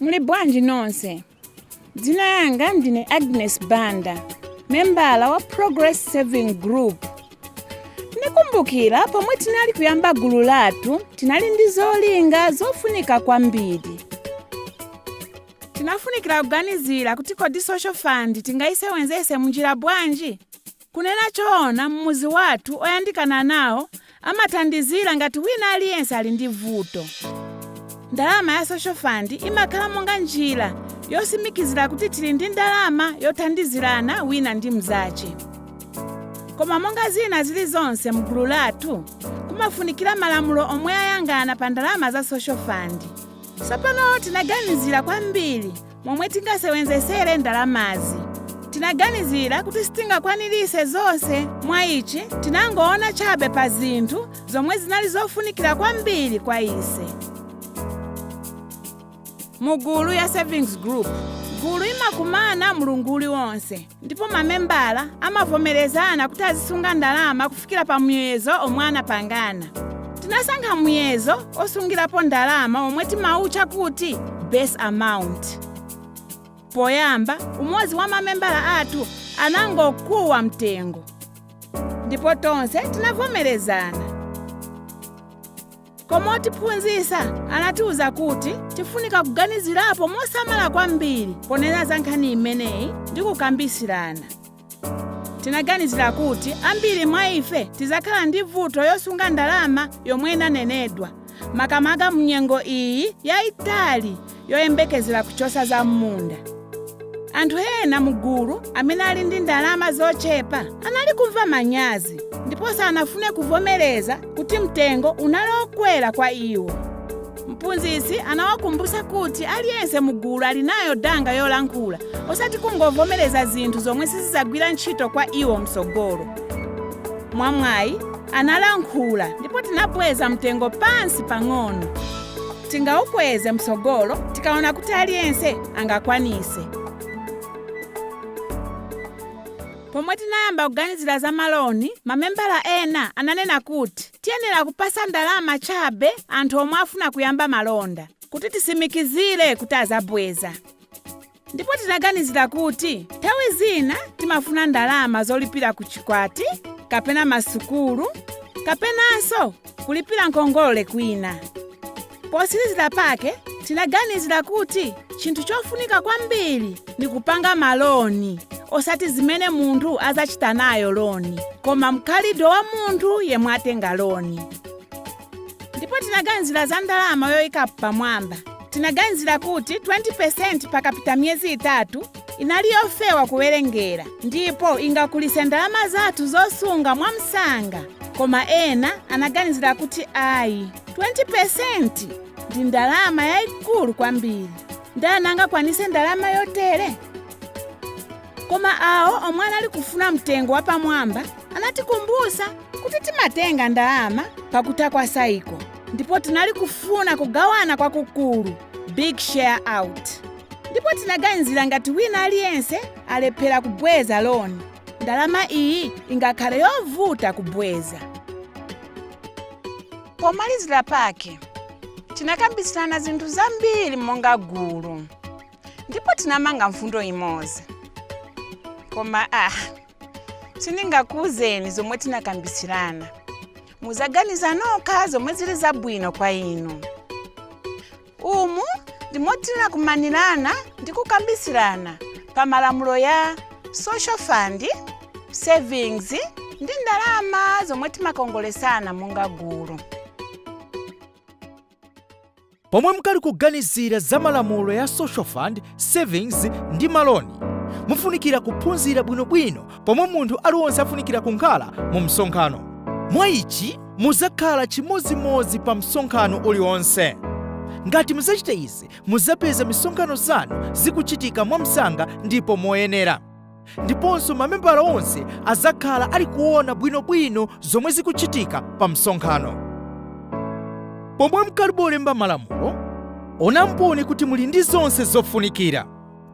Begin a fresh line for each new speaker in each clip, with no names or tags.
Muli bwanji nonse? Dzina yanga ndine Agnes Banda, membala wa Progress Saving Group. Ndikumbukira pomwe tinali kuyamba gulu lathu, tinali ndi zolinga zofunika kwambiri. Tinafunikira kuganizira kuti kodi social fund tingaisewenzese munjira bwanji? Kunena choona m'mudzi wathu oyandikana nawo amathandizira ngati wina aliyense ali ndi vuto. Ndalama ya social fund imakhala monga njira yosimikizira kuti tili ndi ndalama yothandizirana wina ndi mzache. Koma monga zina zili zonse mgulu lathu, kumafunikira malamulo omwe ayangana pa ndalama za social fund. Sapano tinaganizira kwambiri momwe tingasewenzesere ndalamazi tinaganizira kuti sitingakwanirise zonse mwa ichi tinangoona chabe pa zinthu zomwe zinali zofunikira kwambiri kwa ise mu gulu ya savings group gulu imakumana mulungu uliwonse ndipo mamembala amavomerezana kuti azisunga ndalama kufikira pa muyezo omwe anapangana tinasankha muyezo osungirapo ndalama omwe timawutcha kuti base amount poyamba umodzi wa mamembala athu anangokuwa mtengo ndipo tonse tinavomerezana koma otiphunzitsa anatiwuza kuti tifunika kuganizirapo mosamala kwambiri ponena za nkhani imeneyi ndi kukambisirana tinaganizira kuti ambiri mwa ife tizakhala ndi vuto yosunga ndalama yomwe inanenedwa makamaka mnyengo iyi yayitali yoyembekezera kuchosa za m'munda. Anthu ena mu gulu amene ali ndi ndalama zochepa anali kumva manyazi ndipo sanafune kuvomereza kuti mtengo unali okwera kwa iwo. Mphunzitsi anawakumbutsa kuti aliyense mu gulu ali nayo danga yolankhula osati kungovomereza zinthu zomwe sizizagwira ntchito kwa iwo mtsogolo. Mwamwayi, analankhula ndipo tinabweza mtengo pansi pang'ono. tingaukweze mtsogolo tikaona kuti aliyense angakwanise pomwe tinayamba kuganizira za maloni mamembala ena ananena kuti tiyenera kupasa ndalama chabe anthu omwe afuna kuyamba malonda kuti tisimikizire kuti azabweza ndipo tinaganizira kuti nthawi zina timafuna ndalama zolipira ku chikwati kapena masukulu kapenanso kulipira nkhongole kwina posirizira pake tinaganizira kuti chinthu chofunika kwambiri ni kupanga maloni osati zimene munthu azachita nayo loni koma mkhalidwe wa munthu yemwe atenga loni ndipo tinaganizira za ndalama yoyikapo pamwamba tinaganizira kuti 20% pakapita miyezi itatu inali yofewa kuwerengera ndipo ingakulise ndalama zathu zosunga mwamsanga koma ena anaganizira kuti ayi 20% ndi ndalama yayikulu kwambiri ndani angakwanise ndalama yotere koma awo omwe anali kufuna mtengo wapamwamba anatikumbusa kuti timatenga ndalama pakutha kwa saiko ndipo tinali kufuna kugawana kwakukulu big share out ndipo tinaganizira ngati wina aliyense alephera kubweza loni ndalama iyi ingakhale yovuta kubweza pomalizira pake tinakambisirana zinthu zambiri monga gulu ndipo tinamanga mfundo imodzi koma ah sindingakuuzeni zomwe tinakambisirana muzaganiza nokha zomwe zili zabwino kwa inu umu ndimo tinakumanirana ndi kukambisirana pa malamulo ya social fund savings ndi ndalama zomwe timakongolesana monga gulu
Pomwe mukali kuganizira za malamulo ya social fund, savings ndi maloni, mufunikira kuphunzira bwino bwino pomwe munthu aliwonse afunikira kunkhala mu msonkhano. Mwa ichi, muzakhala chimodzimodzi pa msonkhano ulionse. Ngati muzachita izi, muzapeza misonkhano zanu zikuchitika mwamsanga ndipo moyenera. ndiponso mamembala onse azakhala ali kuona bwinobwino zomwe zikuchitika pa msonkhano pomwe mukalibe kulemba malamulo onamponi kuti muli ndi zonse zofunikira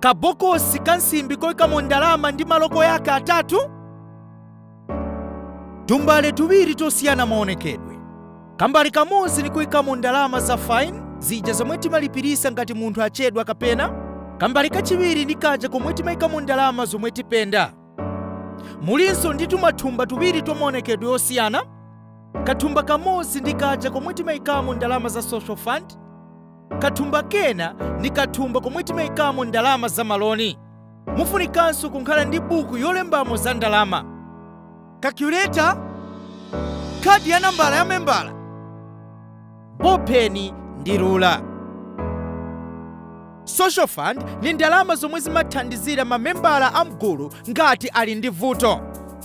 kabokosi ka nsimbi koikamo ndalama ndi maloko yake atatu Tumbale tuwiri tosiyana maonekedwe. Kambale kamodzi nikuikamo ndalama za fine zija zomwe timalipirisa ngati munthu achedwa kapena kambale kachiwiri ndi kaja komwe timaikamo ndalama zomwe tipenda. Mulinso ndi tumathumba tuwiri twa maonekedwe osiyana. Kathumba kamodzi ndi kaja komwe timaikamo ndalama za social fund. Kathumba kena ndi kathumba komwe timaikamo ndalama za maloni. mufunikanso kunkhala ndi buku yolembamo za ndalama, calculator, khadi ya nambala ya membala, bopeni ndi rula. Social fund ni ndalama zomwe zimathandizira mamembala a mgulu ngati ali ndi vuto.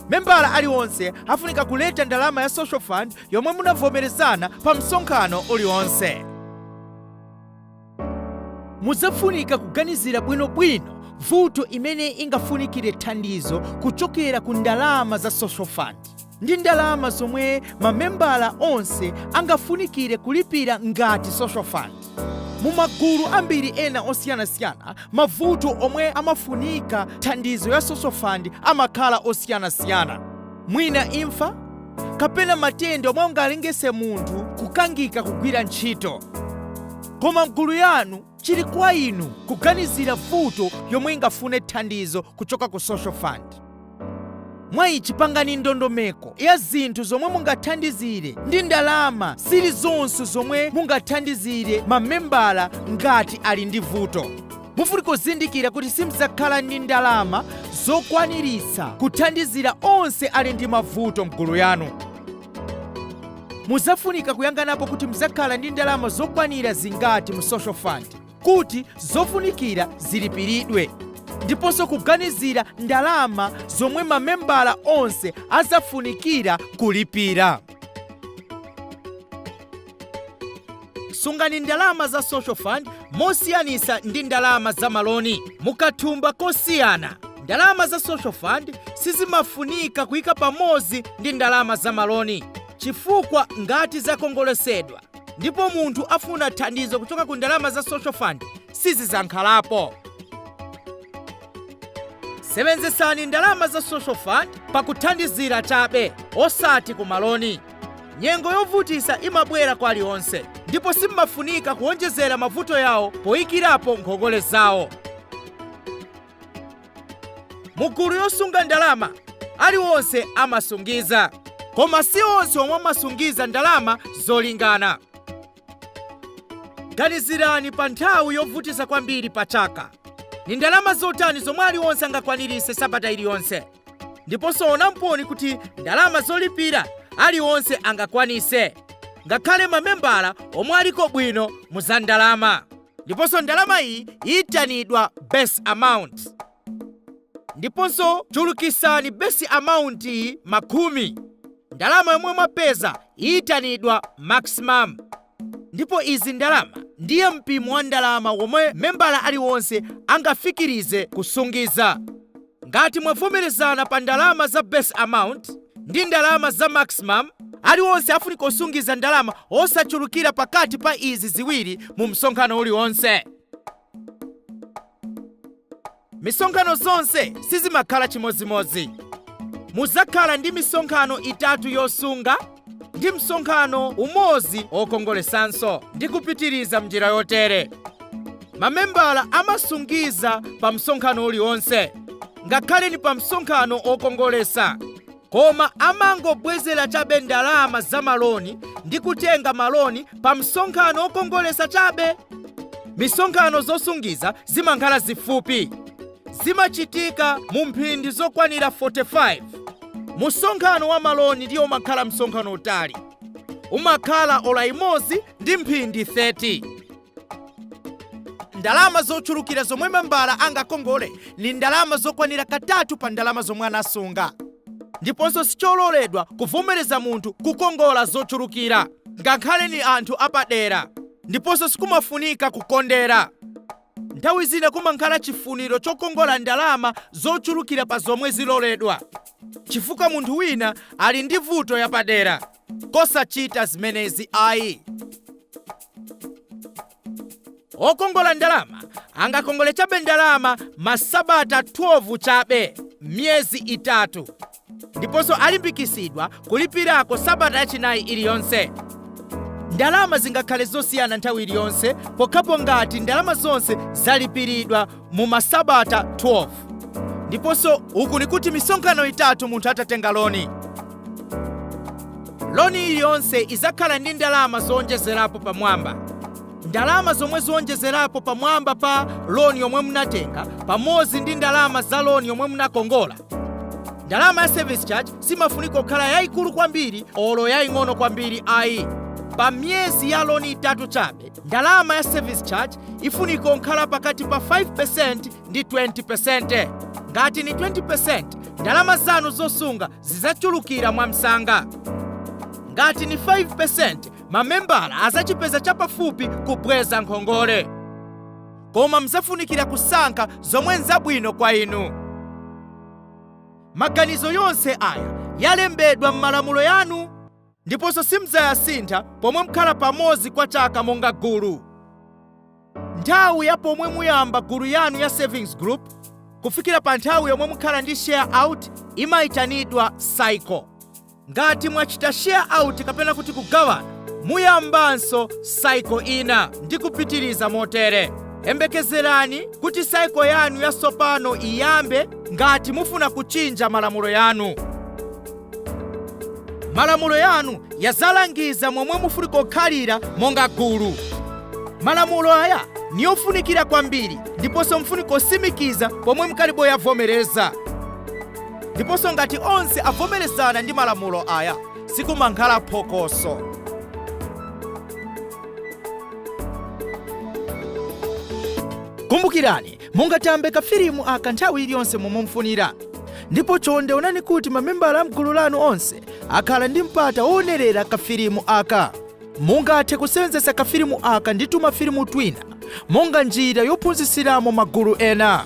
Membala aliwonse afunika kuleta ndalama ya social fund yomwe munavomerezana pa msonkhano uliwonse. Mudzafunika kuganizira bwinobwino vuto imene ingafunikire thandizo kuchokera ku ndalama za Social Fund ndi ndalama zomwe mamembala onse angafunikire kulipira ngati Social Fund. Mu magulu ambiri ena osiyanasiyana, mavuto omwe amafunika thandizo ya Social Fund amakhala osiyanasiyana, mwina imfa, kapena matenda omwe ungalengese munthu kukangika kugwira ntchito koma mgulu yanu chili kwa inu kuganizira vuto yomwe ingafune thandizo kuchoka ku social fund mwa ichi pangani ndondomeko ya zinthu zomwe mungathandizire ndi ndalama zilizonse zomwe mungathandizire mamembala ngati ali ndi vuto mufunika kuzindikira kuti simzakhala ndi ndalama zokwaniritsa kuthandizira onse ali ndi mavuto mgulu yanu muzafunika kuyanganapo kuti mzakhala ndi ndalama zokwanira zingati mu social fund kuti zofunikira zilipiridwe ndiponso kuganizira ndalama zomwe mamembala onse azafunikira kulipira sungani ndalama za social fund mosiyanisa ndi ndalama za maloni mukathumba kosiyana ndalama za social fund sizimafunika kuyika pamodzi ndi ndalama za maloni chifukwa ngati zakongolesedwa ndipo munthu afuna thandizo kuchoka ku ndalama za social fund sizizakhalapo sebenzesani ndalama za social fund pakuthandizira chabe osati ku maloni Nyengo yovutisa imabwera kwa aliwonse ndipo simufunika kuonjezera mavuto yawo poikirapo nkhongole zawo. Mugulu yosunga ndalama, aliwonse amasungiza. Koma si onse omwe amasungiza ndalama zolingana. Ganizirani pa nthawi yovutisa kwambiri pa chaka. Ni ndalama zotani zomwe aliwonse angakwanirise sabata iliyonse? Ndiponso onamponi kuti ndalama zolipira aliwonse angakwanise, ngakhale mamembala omwe aliko bwino mu za ndalama. Ndiponso ndalama iyi iyitanidwa base amount. ndiponso chulukisani base amount iyi makhumi ndalama yomwe mwapeza iyitanidwa maximum ndipo izi ndalama ndiye muyimo wa ndalama womwe membala aliwonse angafikirize kusungiza ngati mwavomerezana pa ndalama za base amount ndi ndalama za maximum aliwonse afunika kusungiza ndalama osachulukira pakati pa izi ziwiri mu msonkhano uliwonse misonkhano zonse sizimakhala chimodzimodzi muzakhala ndi misonkhano itatu yosunga ndi msonkhano umodzi wokongolesanso ndi kupitiriza mnjira yotere mamembala amasungiza pa msonkhano uliwonse ngakhale ni pa msonkhano wokongolesa koma amangobwezera chabe ndalama za maloni ndi kutenga maloni pa msonkhano okongolesa chabe. Misonkhano zosungiza zimankhala zifupi. Zimachitika mu mphindi zokwanira 45. Musonkhano wa maloni ndiyo umakhala msonkhano utali. Umakhala ola imozi ndi mphindi 30. ndalama zochulukira zomwe membala angakongole ni ndalama zokwanira katatu pa ndalama zomwe anasunga ndiponso sichololedwa kuvomereza munthu kukongola zochulukira ngakhale ni anthu apadera ndiponso sikumafunika kukondera nthawi zina kumankhala chifuniro chokongola ndalama zochulukira pa zomwe ziloledwa chifukwa munthu wina ali ndi vuto yapadera osachita zimenezi ayi okongola ndalama angakongole chabe ndalama masabata 12 chabe miyezi itatu ndiponso alimbikitsidwa kulipirako sabata yachinayi iliyonse ndalama zingakhale zosiyana nthawi iliyonse pokhapo ngati ndalama zonse zalipiridwa mu masabata 12 ndiponso uku nikuti misonkhano itatu munthu atatenga loni loni iliyonse izakhala ndi ndalama zowonjezerapo pamwamba ndalama zomwe zowonjezerapo pamwamba pa loni yomwe munatenga pamodzi ndi ndalama za loni yomwe munakongola ndalama ya service charge simafunika kukhala yayikulu kwambiri olo yaying'ono kwambiri ayi pa miyezi ya loni itatu chabe Ndalama ya service charge ifunika kunkhala pakati pa 5% ndi 20%. Ngati ni 20%, ndalama zanu zosunga zizachulukira mwamsanga. Ngati ni 5%, mamembala azachipeza chapafupi kubweza nkhongole. Koma mzafunikira kusankha zomwe nzabwino kwa inu. Maganizo yonse aya alembedwa m'malamulo yanu ndiponso simdzayasintha pomwe mukhala pamodzi kwa chaka monga gulu. Nthawi ya pomwe muyamba gulu yanu ya savings group kufikira pa nthawi yomwe mukhala ndi share out imaitanidwa cycle. Ngati mwachita share out kapena kuti kugawana, muyambanso cycle ina ndi kupitiriza motere. Yembekezerani kuti cycle yanu yatsopano iyambe ngati mufuna kuchinja malamulo yanu. malamulo yanu yazalangiza momwe mufunika kukhalira monga gulu malamulo aya niyofunikira kwambiri ndiponso mufunika kusimikiza pomwe mukalibe kuyavomereza ndiponso ngati onse avomerezana ndi malamulo aya sikumakhala phokoso kumbukirani Mungatambe kafilimu aka nthawi iliyonse momwe mufunira. Ndipo chonde onani kuti mamembala am'gulu lanu onse akhala ndi mpata woonerera kafilimu aka. Mungathe kusenzesa kafilimu aka ndi tumafilimu twina monga njira yophunzitsiramo magulu ena.